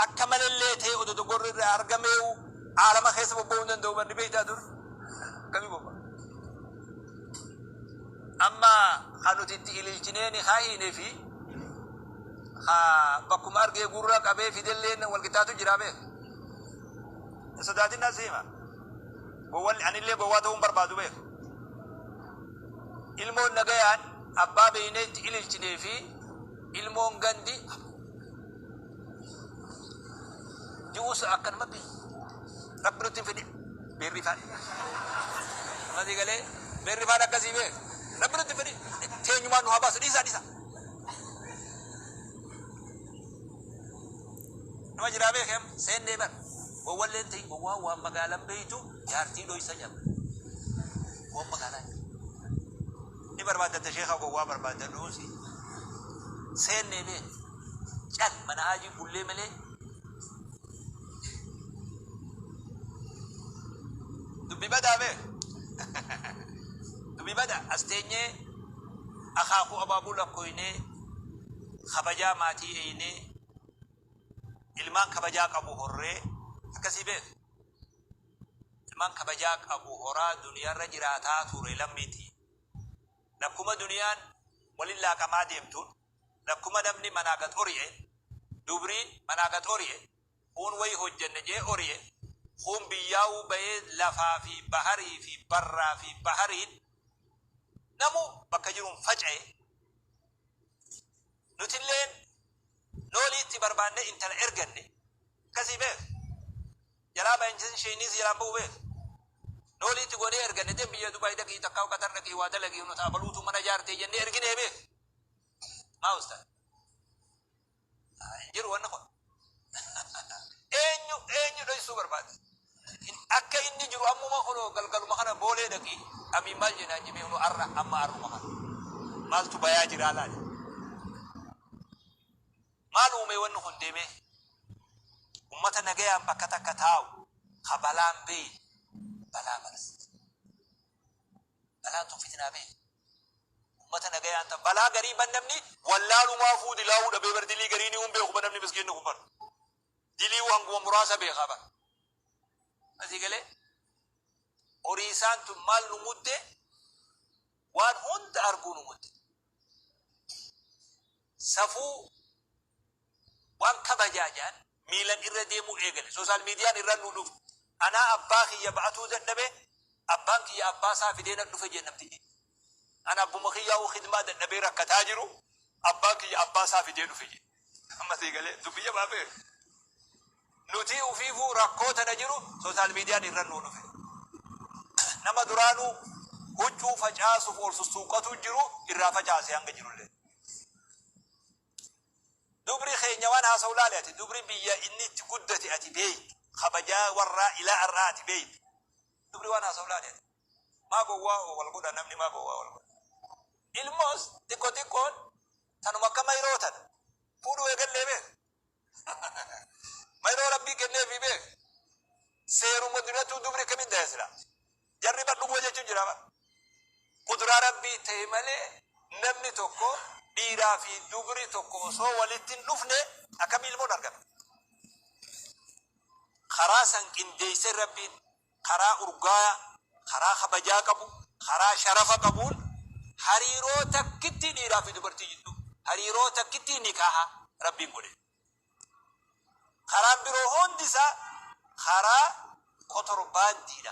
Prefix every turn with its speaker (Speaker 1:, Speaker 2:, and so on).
Speaker 1: Akka malellee ta'ee odoo dogoorri irraa argameewu aalama keessa bobba'uu hin danda'u bar ni beektaa dur akkamii bobba'a. Amma kan nuti itti ililchinee ni kaa'iine fi ka bakkuma argee gurra qabee fidelleen wal qixxaatu jira beek. Hin sodaatin nan si hima. Gowwalli anillee gowwaa ta'uu hin barbaadu beek. Ilmoon nagayaan abbaa beeknee itti ililchinee fi ilmoon gandi Ji'uus akkanumatti rabbi nutti hin fidin beerrifaan. Masii galee beerrifaan akkasii bee rabbi nutti hin fidin teenyumaan nu haa baasu dhiisaa dhiisaa. Nama jiraa beekem seennee bar gowwalleen ta'in gowwaa waan magaalaan beeytu jaartii dhoysa jaba. Waan magaalaan ni barbaaddatta sheekaa gowwaa barbaadda dhuusi seennee beeku. Cal mana haajii bullee malee dubbi badaa bee dubbi bada as teenyee akaakuu abaabuu lakkooynee kabajaa maatii eeynee ilmaan kabajaa qabu horree akkasii beek ilmaan kabajaa qabu horaa duniyaarra jiraataa ture lammiiti lakkuma duniyaan walin laaqamaa deemtuun Lakkuma namni manaa gad oriye, dubriin manaa gad oriye, kuun wayi hojjanna je'ee oriye, kuun biyyaawuu bayee lafaa fi baharii fi barraa fi bahariin namuu bakka jiruun facaye, nutilleen noolii itti barbaannee intala erganne, akkasii beekh, jalaa bayinsn sheyniis jalaan bahu beekh, noolii itti goonee erganne, dem biyya Dubai dhaqii takkaa Qatar dhaqii waa dalagii, nu ta abaluutuu mana jaartee jennee erginee beekh. Maa ustaz? Ah, Hin jiru wanni kun. Eenyu eenyu dhoysuu barbaada? In- Akka inni jiru ammuma kunoo galgaluma kana boolee dhaqi. Amiin maal jennaan jimee kunoo arra amma arruma kana. Maaltu bayaa jiraa laali? Maal uumee wanni kun deemee? Ummata nagayaan bakka takka taa'u. Ha balaan beeyi. Balaa malas. Balaan tun fitnaa bee ummata nagayaan ta balaa garii bar namni wallaalumaafuu dilaawuu dhabee bar dilii gariiniyuu hin beeku bar namni miskiinni kun bar diliiwuu hanguma muraasa beekaa bar asii galee horiisaan tun maal nu mudde waan hunda arguu nu mudde safuu Wanta bajaajaan miilan irra deemuu eegale. Sooshaal miidiyaan irra nu dhufe. Anaa abbaa kiyya ba'atuu dadhabe, abbaan kiyya abbaa isaa fidee na dhufe jedhe namtichi. An abbuma kiyyaa'uu khidmaa dadhabee rakkataa jiru, abbaan kiyya abbaa isaa fidee dhufe jedhe. Amma sii galee? Dubbii jabaa beek. Nutii ufiifuu rakkoo tana jiru sooshaal miidiyaan irra nu dhufe. Nama duraanuu huccuu facaasuuf ol sussuuqqatu jiru irraa facaase hanga jirullee. Dubri keenya waan haasawu laali ati dubri biyya inni itti guddate ati beeyta kabajaa warraa ilaa ar'aa ati beeyta dubri waan haasawu laali ati maa gowwaa wal godha namni maa gowwaa wal godha ilmoos xiqqo xiqqoon tanuma akka mayroo tana fuudhuu eegallee beek mayroo rabbii kenneefii beek seeruma duratuu dubri akkamitti daya silaa Jarri bar dhuguma jechuun jira bar. Quduraa rabbii ta'e malee namni tokko dhiiraa fi dubri tokko osoo walitti hin dhufne akkami ilmoon argata? Karaa san qindeessee rabbiin karaa urgaaya, karaa kabajaa qabu, karaa sharafa qabuun hariiroo takkittii dhiiraa fi dubartii jidduu, hariiroo takkittii nikaaha rabbiin godhe. Karaan biroo hundi isaa karaa kotorbaandiidha.